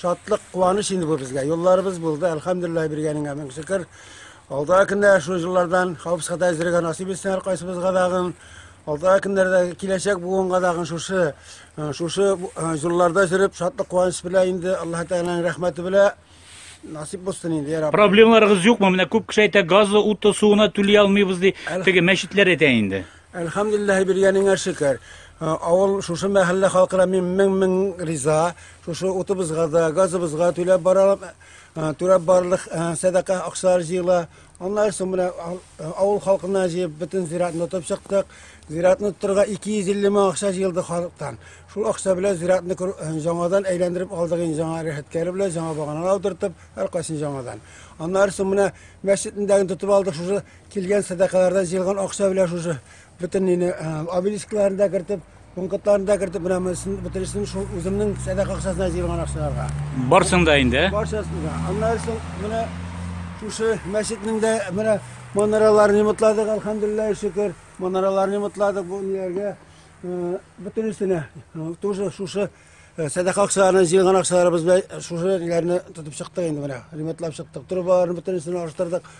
Шатлык, куаныч инде бу безгә. Юлларыбыз булды, әлхәмдулиллаһ биргәнеңә мең шөкер. Алдагы көндә шул юллардан хавыз хата әзергә насыйп итсен һәркайсыбызга дагын. Алдагы көндәрдә киләчәк буынга дагын шушы э, шушы э, юлларда җөреп, шатлык куаныч белә инде Аллаһ Тәгаләнең рәхмәте белә насип булсын инде яраб проблемаларыгыз юкмы менә күп кеше әйтә газы уты суына түли алмыйбыз ди теге мәчетләр әйтә инде Әлхәмдүлилләһи биргәнеңә шөкер. Авыл шушы мәхәллә халкына мин мең-мең риза. Шушы утыбызга да, газыбызга да түләп баралым, түләп барылык сәдака акчалар җыела. Аннары соң менә авыл халкына җыеп бөтен зиратны тотып чыктык. Зиратны тотырга 250 мең акча җыелды халыктан. Шул акча белән зиратны җаңадан әйләндереп алдык инде җаңа рәхәткәре белән, җаңа баганалар утыртып, һәркайсын җаңадан. Аннары соң менә мәчетне дә тотып алдык шушы Килгән сәдакалардан җыелган акча белән шушы бөтен нины обелискларын да кертеп, пунктларын да кертеп, менә монысын бөтенесен шул үземнең сәдака акчасына җыелган акчаларга. Барсын да инде. Барсын да. Аннан соң менә шушы мәчетнең дә менә манараларын ремонтладык, алхамдулиллаһи шөкер. Манараларын ремонтладык бу ниләргә бөтенесенә. Тоже шушы Э, сәдака акчаларына җыелган акчаларыбыз белән шушы җирләрне тотып чыктык инде менә ремонтлап чыктык трубаларны бөтенесен алыштырдык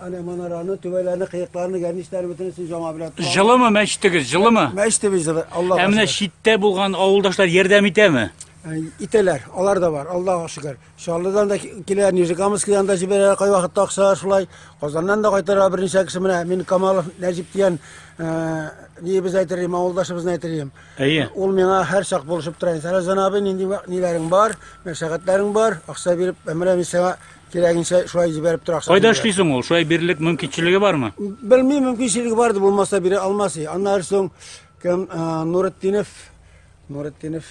әнә манараны түбәләрне кыякларны гәрничләрне бөтенесен жаңа белән жылымы мәчетегез жылымы мәчетебез жылы алла ә менә читтә булган авылдашлар ярдәм итәме э, итәләр алар да бар аллага шөкер Чаллыдан да килә, Нижекамыскидан да җибәрә, кай вакытта акча шулай. Казаннан да кайтара берничә кеше менә мин Камалов Нәҗип дигән ни без әйтер идем, авылдашыбызны әйтер идем. Әйе. Ул миңа һәр чак булышып тора. Сәрәзан абый, нинди ниләрең бар, мәшәкатьләрең бар, акча биреп, менә мин сиңа кирәгенчә шулай җибәреп тора. Кайда эшли соң ул? Шулай бирерлек мөмкинчелеге бармы? Белмим, мөмкинчелеге барды, булмаса бирә алмас. Аннары соң кем Нуретдинов Нуретдинов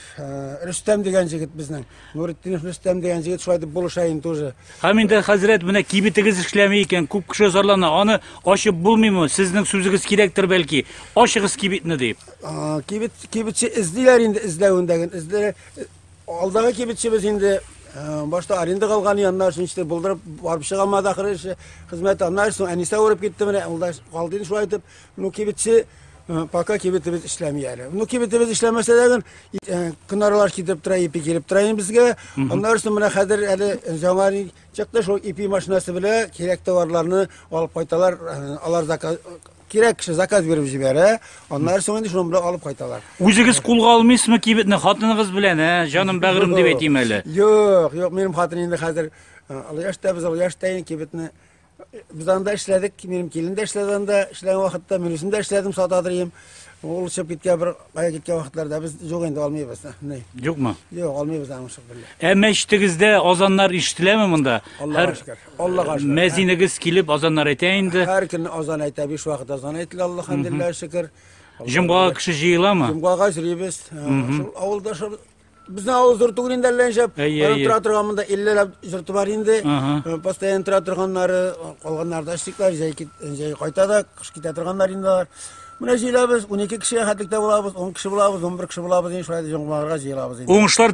Рөстәм дигән җегет безнең. Нуретдинов Рөстәм дигән җегет шулай дип булыша инде уже. Һәм инде хәзрәт менә кибетегез эшләми икән, күп кеше зарлана. Аны ачып булмыймы? Сезнең сүзегез кирәктер бәлки. Ачыгыз кибетне дип. Кибет кибетче эзлиләр инде эзләвендәген. Эзләре алдагы кибетчебез инде башта аренда калган яннар өчен иште булдырып барып чыга алмады ахыры эше хезмәте аннан соң әнисә урып китте менә ул да калды инде шулай итеп Ну кибетче пока кибетебез эшләми әле. Ну кибетебез эшләмәсә дә кынарлар китеп тора, ипи килеп тора безгә. Аннары соң менә хәзер әле жаңа чыкты шул ипи машинасы белән кирәк товарларны алып кайталар, алар заказ кирәк кеше заказ биреп җибәрә, аннары соң инде шуны белән алып кайталар. Үзегез кулга алмыйсызмы кибетне хатыныгыз белән, ә? Җаным бәгырем дип әйтим әле. Юк, юк, минем хатын инде хәзер алып яшь тә без, алып яшь тә инде кибетне Без анда эшләдек, минем килен дә эшләде анда, эшләгән вакытта мин үзем дә эшләдем, сата дөрим. Ул чып киткән бер кая киткән вакытларда без юк инде алмыйбыз. Ни? Юкмы? Юк, алмыйбыз аны шул белән. Ә мәчетегездә азаннар ишетеләме монда? Аллага шөкер. Аллага шөкер. Мәзинегез килеп азаннар әйтә инде. Һәр көн азан әйтә, биш вакыт азан әйтелә, Аллаһумдиллаһ шөкер. Җомгага кеше җыеламы? Җомгага җыйбыз. Шул авылда шул Безнең авыл зур түгел инде әллә ничә. Аның тора торган монда 50 ләп җырты бар инде. Э, постоянно тора торганнары, э, калганнары да эшликләр, җәй кит, э, җәй кайта да, кыш китә торганнар инде алар. Менә җыелабыз, 12 кеше хәтлектә булабыз, 10 кеше булабыз, 11 кеше булабыз, инде шулай җомгаларга җыелабыз инде. Уңышлар